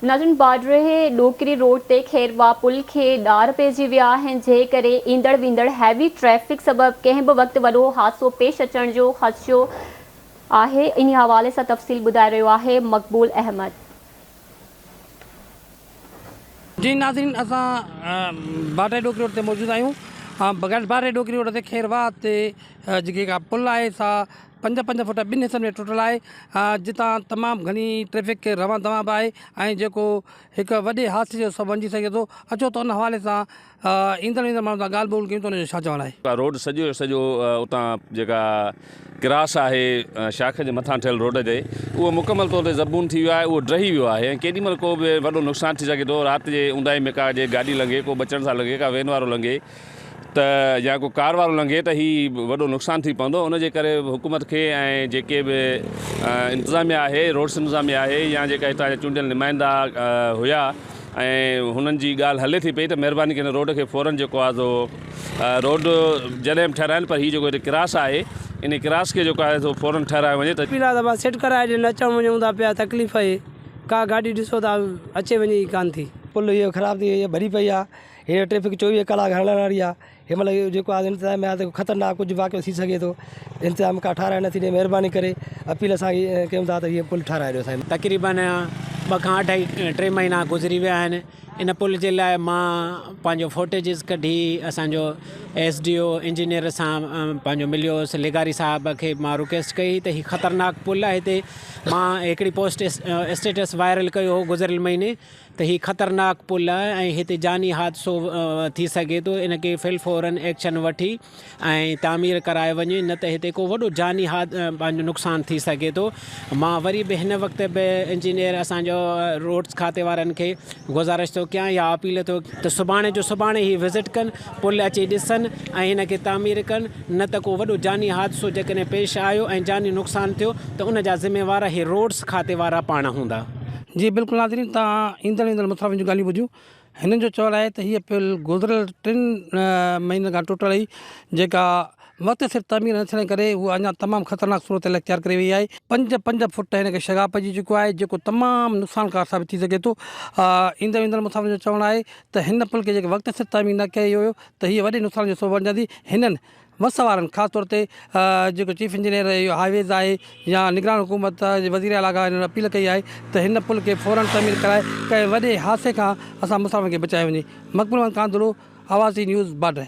نارين باڊرهي ڏوڪري روڊ تي خيرواهه پل کي ڏار پئجي ويا آهن جنهن ڪري ايندڙ ويندڙ هيوي ٽريفڪ سبب ڪنهن به وقت وڏو حادثو پيش اچڻ جو خدشو آهي انهي حوالي سان تفصيل ٻڌائي رهيو آهي مقبول احمد. جي ناظرين اسان باڊرهي ڏوڪري روڊ تي موجود آهيون باڊرهي ڏوڪري روڊ تي خيرواهه تي جيڪي اها پل آهي سا پنج پنج فوٽ ٻن حصن ۾ ٽٽل آهي جتان تمام گهڻي ٽريفڪ روان دوان به آهي ۽ جيڪو هڪ وڏي حادثي جو سبب بڻجي سگهي ٿو اچو ته ان حوالي سان ايندڙ ويندڙ ماڻهن سان ڳالهه ٻولهه ڪيون ته ان جو ڇا چوڻ آهي. روڊ سڄو جو سڄو اتان جيڪا ڪراس آهي شاخ جي مٿان ٺهيل روڊ تي اهو مڪمل طور تي زبون ٿي ويو آهي اهو ڊهي ويو آهي ۽ ڪيڏي مهل ڪو به وڏو نقصان ٿي سگهي ٿو رات جي اونداهي ۾ ڪا جي گاڏي لنگهي ڪو بچڻ سان لنگهي ڪا وين وارو لنگهي ته يا ڪو ڪار وارو لنگهي ته هي وڏو نقصان ٿي پوندو ان جي ڪري حڪومت کي ۽ جيڪي به انتظاميا آهي روڊس انتظاميا آهي يا جيڪا هتان جا چونڊيل نمائندا هيا ۽ هنن جي ڳالهه هلي ٿي پئي ته مهرباني ڪري هن روڊ کي فورن جيڪو آهي سو روڊ جڏهن به ٺهرائن پر هي جيڪو هتي ڪراس آهي انهي ڪراس کي جيڪو آهي سو فورن ٺهرايو وڃي ته پيلا دٻا سيٽ ڪرائي ڏين اچڻ وڃون ٿا پيا تڪليف اهي ڪا گاڏي ڏسو ته اچي وڃي ئي ڪانه ٿي. پل اهو خراب ٿي وئي آهي ڀري پئي آهي. هيء ٽريفڪ چوويهه ڪلاڪ هلڻ واري آهي، هن مهل اهو جيڪو آز انتظام ۾ آهي ته خطرناڪ ڪجهه واقعو ٿي سگهي ٿو، انتظام ڪا ٺهرائي نه ٿي ڏئي، مهرباني ڪري اپيل اسان کي ڪيون ٿا ته هيء پل ٺهرائي ڏيو سائين. تقريباً ٻه کان اڍائي ٽي مهينا گذري ويا آهن ان پل جي لاء مان پنهنجو فوٽيجز ڪڍي اسان جو ايس ڊي او انجنيئر سان پنهنجو مليو هوس لغاري صاحب کي مان رڪويسٽ ڪئي هئي ته هي خطرناڪ پل آهي هتي مان هڪڙي پوسٽ اسٽيٽس وائرل ڪيو هو گذريل مهيني ته هي خطرناڪ پل آهي ۽ هتي جاني حادثو ٿي سگهي ٿو ان کي فلفورا ايڪشن وٺي ۽ تعمير ڪرائي وڃي نه ته هتي ڪو وڏو جاني پنهنجو نقصان ٿي سگهي ٿو مان وري به هن وقت به انجنيئر اسان جو روڊز کاتي وارن کي گذارش ٿو ڪيان يا اپيل ٿو ته سڀاڻي جو سڀاڻي هي وزٽ ڪن پل اچي ڏسن ۽ هن کي تعمير ڪن نه ته ڪو وڏو جاني حادثو جيڪڏهن پيش آيو ۽ جاني نقصان ٿيو ته ان جا ذميوار هي روڊز کاتي وارا پاڻ هوندا. جي بلڪل ناظرين توهان ايندڙ ويندڙ مسافرن جون ڳالهيون ٻڌيون هنن جو چوڻ آهي ته هيء پل گذريل ٽن مهينن کان ٽٽل هئي جيڪا وقت سر تعمير نه ٿيڻ ڪري هوء اڃا تمام خطرناڪ صورتحال اختيار ڪري وئي آهي پنج پنج فوٽ هن کي شگاف پئجي چڪو آهي جيڪو تمام نقصانڪار ثابت ٿي سگهي ٿو ايندڙ ويندڙ مسافرن جو چوڻ آهي ته هن پل کي جيڪي وقت سر تعمير نه ڪيو ويو ته هيء وڏي نقصان جو سبب بڻجندي هنن مس وارن خاص طور تي جيڪو چيف انجنيئر هاء ويز آهي يا نگران حڪومت جي وزير اعليٰ کان هنن اپيل ڪئي آهي ته هن پل کي فورن تعمير ڪرائي ڪنهن وڏي حادثي کان اسان مسافرن کي بچايو وڃي مقبول احمد ڪانڌڙو، آوازي نيوز، باڊهه.